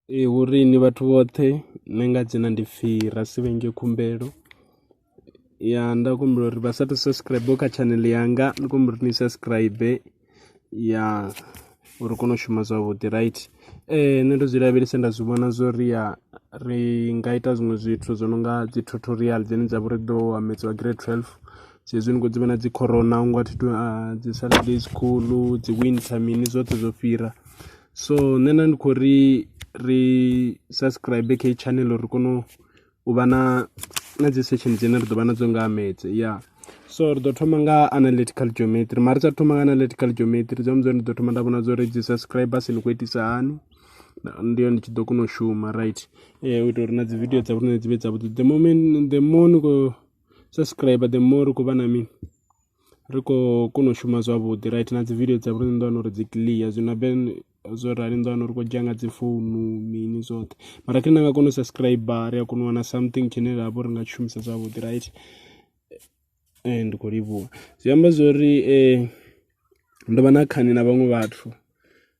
Ee, hu ri inwi vhathu vhoṱhe ni nga dzhena ndi pfhi ra si vhenge khumbelo ya nda humbela uri vha sa athu u subscriber kha channel yanga ndi khou humbela uri ni subscriber ya uri ri kone u shuma zwavhuḓi right. Nṋe ndo zwi lavhelesa nda zwi vhona zwo ri ya ri nga ita zwiṅwe zwithu zwo no nga dzi tutorial dzine dza vha uri dzi ḓo amedziwa grade twelve sa izwi ni khou dzi vhona dzi corona hu nga thi tou, dzi Saturday school, dzi winter mini zwoṱhe zwo fhira. so nṋe na ndi khou ri ri subscribe kha heyi channel uri ri kone u vha na na dzi session dzine ri ḓo vha nadzo nga ha metse ya so ri ḓo thoma nga analytical geometry mara ri sa thoma nga analytical geometry dzi amba ndi ḓo thoma nda vhona dza uri dzi subscribers ni khou itisa hani ndi yo ndi tshi ḓo kona u shuma right eh, u itela uri na dzi video dza vhone dzi vhe dzavhuḓi the moment the more ni khou subscriber the more ri khou vha na mini ri khou kona u shuma zwavhuḓi right na dzi video dza vho riṋe ni ḓo wana uri dzi clear, zwino habe zwo rali ni ḓo wana uri ri khou dzhia nga dzi founu mini zwoṱhe mara kharali na nga kona u subscriber ri a kona u wana something tshine ra vha uri ri nga tshi shumisa zwavhuḓi right. Ndi khou livhuwa, zwi amba zwo ri ndo vha na khani na vhaṅwe vhathu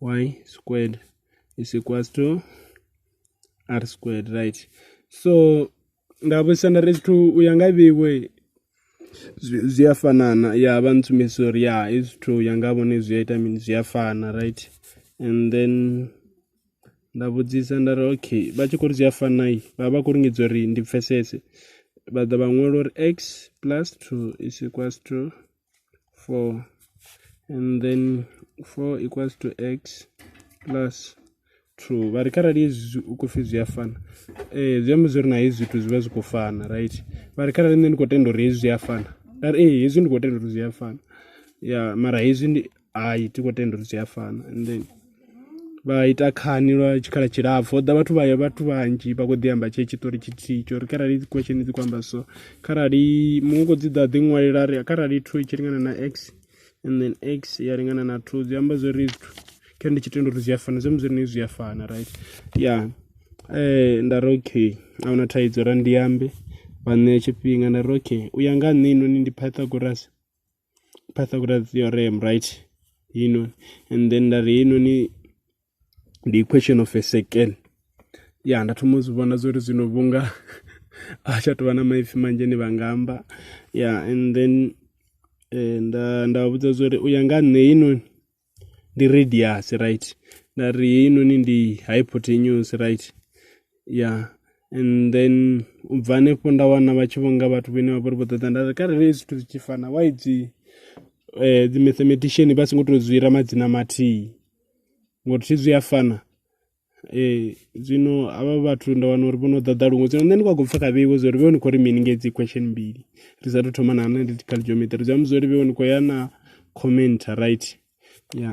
y squared is equals to r squared right so nda vhudzisa nda ri zwithu u ya nga vheiwe zwi a fanana ya vha ntsumbedzisa uri ya hezwi zwithu ya nga vhone zwi a ita mini zwi a fana right and then nda vhudzisa nda ri okay vha tshi khou ri zwi a fana i vha vha khou lingedza uri ndi pfhesese vha ḓa vha ṅwala uri x plus two is equals to 4 and then 4 equals to x plus 2 vha ri kharali hezwi u khou pfhi zwi a fana ee zwi amba zwo ri na hezwi zwithu zwi vha zwi khou fana right vha ri kharali nṋe ndi khou tenda uri hezwi zwi a fana nda ri ee hezwi ndi khou tenda uri zwi a fana ya mara hezwi ndi hai thi khou tenda uri zwi a fana and then vha ita khani lwa tshikhala tshilapfhu, ho ḓa vhathu vha vhathu vhanzhi vha khou ḓi amba tshee tshiṱori tshithihi tsha uri kharali dzi question dzi khou amba so, kharali muṅwe u khou dzi ḓa a ḓi ṅwalela a ri kharali two i tshi lingana na x and then x ya lingana na two zwi amba zwo ri kha ndi tshi tenda uri zwi a fana zwi amba zwo ri zwi a fana right ya nda ri okay a hu na thaidzo ra ndi ambe vha ṋea tshifhinga nda ri okay u ya nga ha nṋe heinoni ndi Pythagoras. pythagoras theorem right you know and then nda ri heinoni ndi equation of a second ya nda thoma u zwi vhona zwo ri zwino vhunga a tsha tovha na maipfi manzhi ni vha nga amba ya and then eh, nda nda vhudza zwo ri u ya nga nṋe heinoni ndi radius right nda ri heinoni ndi hypotenuse right ya and then u bva hanefho nda wana vha tshi vhonga vhathu vhene vha vha ri vho ṱoḓa nda ri kharali hezwi zwithu zwi tshi fana why dzi um dzi mathematician vha songo tou zwi ira madzina mathihi ngori thi zwi a fana Ee, zwino havha vhathu nda wana uri vho no ḓaḓa luṅwe, zwino nṋe ndi khou pfa kha vheiwe zwa uri vheiwe ni khou ri mini nga hedzi question mbili ri sa athu u thoma na analytical geometry, zwi amba zwa uri vheiwe ni khou ya na comment right ya.